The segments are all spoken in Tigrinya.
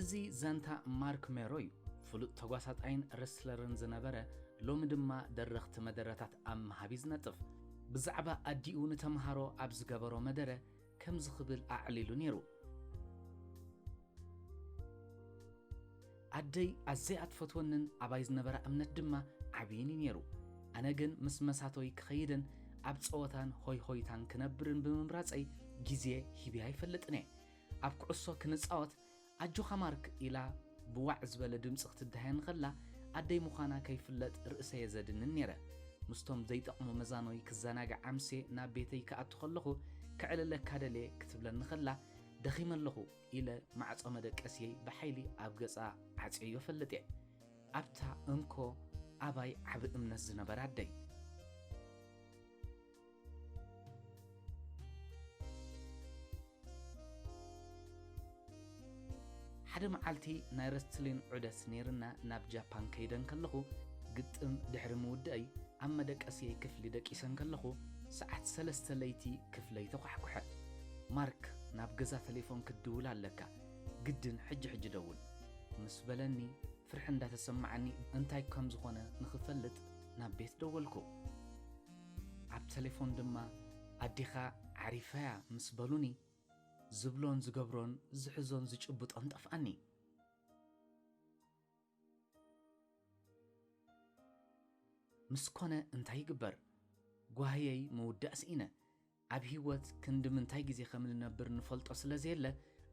እዚ ዛንታ ማርክ ሜሮ እዩ፣ ፍሉጥ ተጓሳጣይን ረስለርን ዝነበረ፣ ሎሚ ድማ ደረኽቲ መደረታት ኣብ ምሃብ እዩ ዝነጥፍ። ብዛዕባ ኣዲኡ ንተመሃሮ ኣብ ዝገበሮ መደረ ከምዚ ክብል ኣዕሊሉ ነይሩ፣ ኣደይ ኣዘያ እትፈትወንን ኣባይ ዝነበራ እምነት ድማ ዓብይን እዩ ነይሩ። ኣነ ግን ምስ መሳቶይ ክኸይድን ኣብ ጸወታን ሆይሆይታን ክነብርን ብምምራጸይ ግዜ ሂበያ ኣይፈልጥን እየ። ኣብ ኩዕሶ ክንጻወት ኣጆኻ ማርክ ኢላ ብዋዕ ዝበለ ድምጺ ክትደሃየኒ ከላ ኣደይ ምዃና ከይፍለጥ ርእሰየ ዘድንን ኔረ። ምስቶም ዘይጠቕሙ መዛኖይ ክዘናጋዕ ኣምስየ ናብ ቤተይ ክኣቱ ከለኹ ከዕልለካ ደልየ ክትብለኒ ከላ ደኺመ ኣለኹ ኢለ ማዕጾ መደቀስየይ ብሓይሊ ኣብ ገጻ ዓጽየዮ ፈልጥየ። ኣብታ እንኮ ኣባይ ዓቢ እምነት ዝነበራ ኣደይ። ሓደ መዓልቲ ናይ ረስትሊን ዑደት ነይርና ናብ ጃፓን ከይደ እንከለኹ ግጥም ድሕሪ ምውድእይ ኣብ መደቀስየይ ክፍሊ ደቂሰ እንከለኹ ሰዓት ሰለስተ ለይቲ ክፍለይ ተዃሕኩሐ ማርክ ናብ ገዛ ተሌፎን ክትድውል ኣለካ ግድን ሕጂ ሕጂ ደውል ምስ በለኒ ፍርሒ እንዳተሰማዓኒ እንታይ ከም ዝኾነ ንኽፈልጥ ናብ ቤት ደወልኩ። ኣብ ተሌፎን ድማ ኣዴኻ ዓሪፋ'ያ ምስ በሉኒ፣ ዝብሎን ዝገብሮን ዝሕዞን ዝጭብጦን ጠፍኣኒ። ምስ ኮነ እንታይ ይግበር፣ ጓህየይ ምውዳእ ስኢነ። ኣብ ህይወት ክንዲ ምንታይ ግዜ ከም እንነብር ንፈልጦ ስለ ዘየለ፣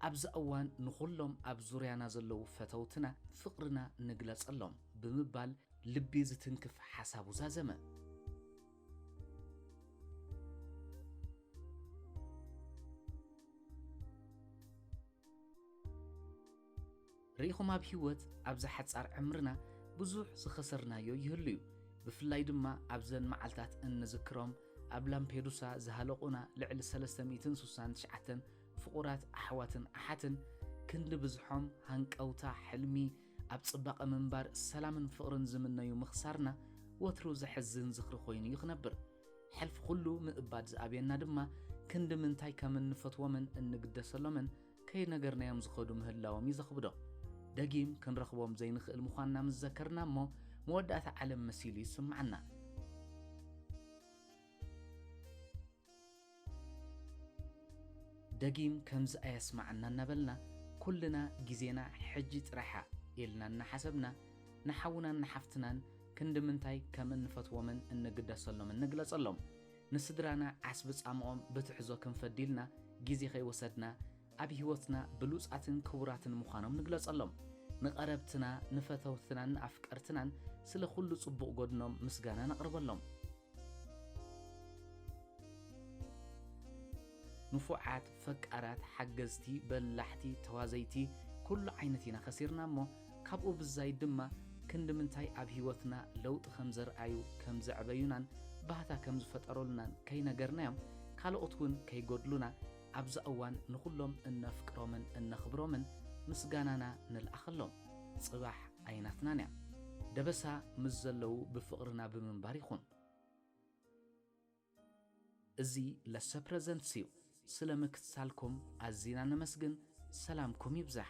ኣብዛ እዋን ንዅሎም ኣብ ዙርያና ዘለዉ ፈተውትና ፍቕርና ንግለጸሎም ብምባል ልቢ ዝትንክፍ ሓሳቡ ዛዘመ። ርኢኹም ኣብ ሂወት ኣብዛ ሓጻር ዕምርና ብዙሕ ዝኸሰርናዮ ይህሉ እዩ ብፍላይ ድማ ኣብዘን መዓልታት እንዝክሮም ኣብ ላምፔዱሳ ዝሃለቑና ልዕሊ 369 ፍቑራት ኣሕዋትን ኣሓትን ክንዲ ብዝሖም ሃንቀውታ ሕልሚ ኣብ ጽባቐ ምንባር ሰላምን ፍቕርን ዝምነዩ ምኽሳርና ወትሩ ዘሕዝን ዝኽሪ ኮይኑ እዩ ክነብር ሕልፊ ኩሉ ምእባድ ዝኣብየና ድማ ክንዲ ምንታይ ከም እንፈትዎምን እንግደሰሎምን ከይነገርናዮም ዝኸዱ ምህላዎም እዩ ዘኽብዶ። ደጊም ክንረኽቦም ዘይንኽእል ምዃንና ምስ ዘከርና እሞ መወዳእታ ዓለም መሲሉ ይስምዓና። ደጊም ከምዚ ኣየስምዓና እናበልና ኩልና ግዜና ሕጂ ጥራሕያ ኢልና እናሓሰብና ንሓውናን ንሓፍትናን ክንዲ ምንታይ ከም እንፈትዎምን እንግደሰሎምን ንግለጸሎም። ንስድራና ዓስቢ ጻምኦም ብትሕዞ ክንፈድይልና ግዜ ከይወሰድና ኣብ ህይወትና ብሉጻትን ክቡራትን ምዃኖም ንግለጸሎም። ንቐረብትና፣ ንፈተውትናን ንኣፍቀርትናን ስለ ኩሉ ጽቡቕ ጎድኖም ምስጋና ነቕርበሎም። ንፉዓት፣ ፈቃራት፣ ሓገዝቲ፣ በላሕቲ፣ ተዋዘይቲ ኩሉ ዓይነት ኢና ከሲርና እሞ ካብኡ ብዛይድ ድማ ክንዲ ምንታይ ኣብ ሂወትና ለውጢ ከምዘርኣዩ ከምዘዕበዩናን ባህታ ከምዝፈጠሩልናን ከይነገርናዮም ካልኦት ውን ከይጎድሉና ኣብዛ እዋን ንኹሎም እነፍቅሮምን እነኽብሮምን ምስጋናና ንልኣኸሎም ጽባሕ ኣይናትናን እያ ደበሳ ምስ ዘለዉ ብፍቕርና ብምንባር ይኹን። እዚ ለሰ ፕረዘንትስ እዩ ስለ ምክትታልኩም ኣዚና ነመስግን ሰላምኩም ይብዛሕ።